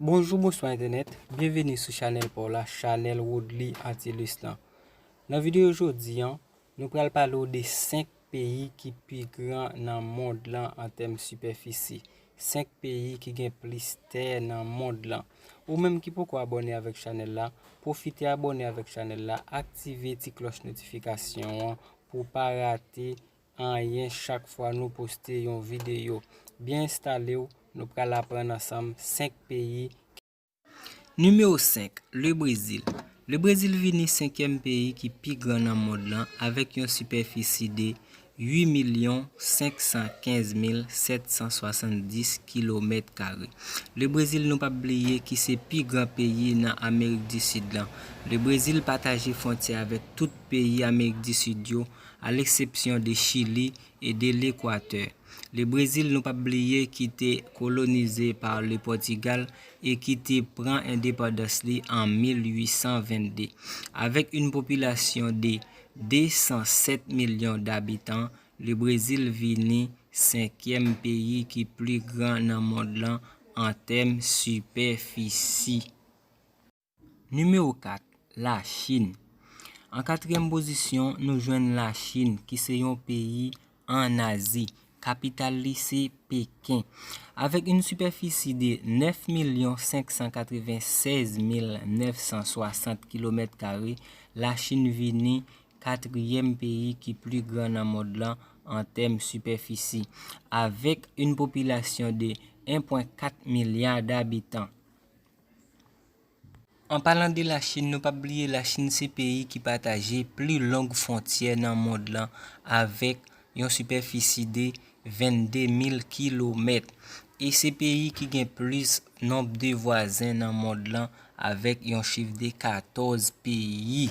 Bonjou bonswa entènèt, byenveni sou chanèl pa w la, chanèl Woodly Antilus lan. Nan videyo jodi an, nou pral pale w de 5 peyi ki pi gran nan mond lan an tèm sipèfisi. 5 peyi ki gen plis tè nan mond lan. Ou menm ki poko abone avèk chanèl la, pwofite abone avèk chanèl la, aktive ti klòch notifikasyon an pou w pa rate anyen chak fwa nou poste yon videyo. Byen enstale w, nou pral aprann ansanm 5 peyi ki. Nimewo 5, Le Brezil Le Brezil vini senkyèm peyi ki pi gran nan mond lan avèk yon sipèfisi de 8 milyon 515 mil 770 kilomèt kare. Le Brezil nou pap bliye ki se pi gran peyi nan Amerik di Sid lan. Le Brezil pataje fwontyè avèk tout peyi Amerik di Sid yo, a leksepsyon de Chili e de Lekwatè. Le Brezil nou pap bliye ki te kolonize pa le Pòtigal e ki te pran endepandans li an 1822. Avèk yn popilasyon de 207 milyon dabitan, le Brezil vini senkyèm peyi ki pli gran nan mond lan an tèm sipèfisi. Nimewo 4, Lachin An katriyèm pozisyon, nou jwenn Lachin ki se yon peyi an Azi. Kapital li se Peken. Avèk yn sipèfisi de 9 milyon 596 mil 960 kilomèt kare, Lachin vini katriyèm peyi ki pli gran nan mond lan an tèm sipèfisi, avèk yn popilasyon de 1.4 milya dabitan. An palan de la Chine nou pap bliye la Chine se peyi ki pataje pli long fwontyè nan mond lan avèk yon sipèfisi de 22 mil kilomèt e se peyi ki gen plis nonb de vwazen nan mond lan avèk yon chif de 14 peyi.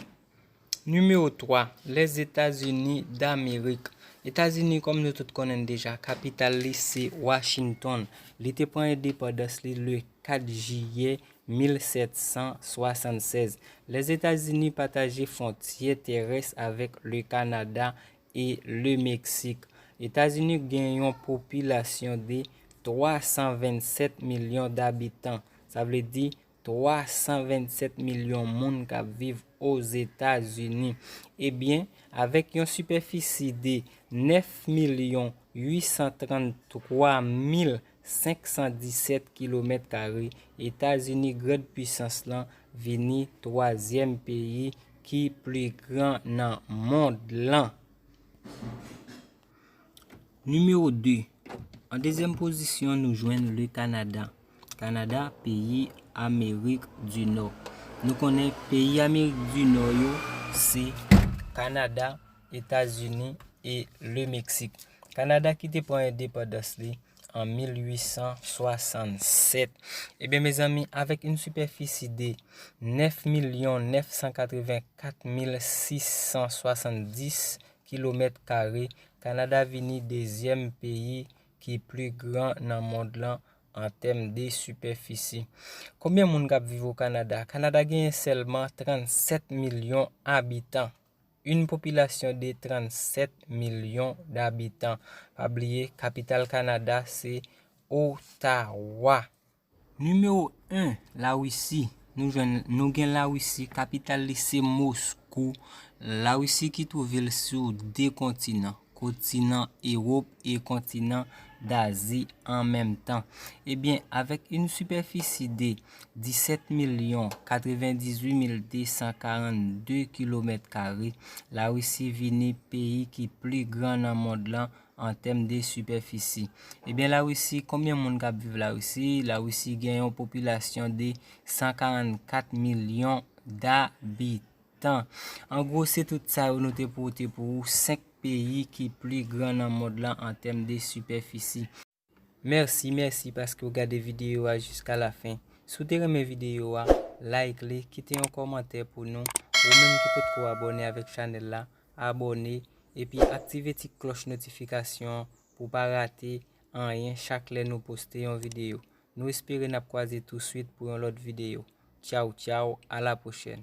Nimewo 3, Lèzetazini Damerik Etazini kòm nou tout konnen l deja, kapital li se Washington. Li te pran endepandans li le 4 jiyè 1776. Lèzetazini pataje fwontyè terès avèk le Kanada e le Meksik. Etazini gen yon popilasyon de 327 milyon dabitan, sa vle di 327 milyon moun k ap viv Ozetazini. Ebyen, avèk yon sipèfisi de 9 milyon 833 mil 517 kilomèt kare, Etazini grand pwisans lan vini twazyèm peyi ki pli gran nan mond lan. Nimewo 2, An dezyèm pozisyon nou jwenn Le Kanada. Kanada, peyi Amerik di Nò. Nou konnen peyi Amerik di Nò yo se Kanada, Etazini e Le Meksik. Kanada ki te pran endepandans li an 1867. Ebyen mezanmi, avèk yon sipèfisi de 9 milyon 984 mil 670 kilomèt kare, Kanada vini dezyèm peyi ki pli gran nan mond lan an tèm de sipèfisi. Konbyen moun k ap viv o Kanada? Kanada genyen sèlman 37 milyon abitan. Yn popilasyon de 37 milyon dabitan. Pa bliye, kapital Kanada se Ottawa. Nimewo 1, Lawisi, Nou jwenn nou gen Lawisi, kapital li se Moskou. Lawisi ki twouve l sou de kontinan, kontinan Ewop e kontinan Dazi an menm tan. Ebyen, avèk yn sipèfisi de 17 milyon 98 mil 242 kilomèt kare, Lawisi vini peyi ki pli gran nan mond lan an tèm de sipèfisi. Ebyen la Russie konbyen moun kap viv la Russie? La Russie gen yon popilasyon de 144 milyon dabitan. An gwo se tout sa yo nou te pote pou ou 5 peyi ki pli gran nan mond lan an tèm de sipèfisi. Merci merci paske ou gade video a jiska la fin si w te renmen video a like li kite yon kòmantè pou nou ou menm ki potko abòne avèk chanèl la abòne epi aktive ti klòch notifikasyon pou pa rate anyen chak lè nou poste yon video nou espere nap kwaze tou swit pou yon lòt video tchaww tchaww a la pwochèn.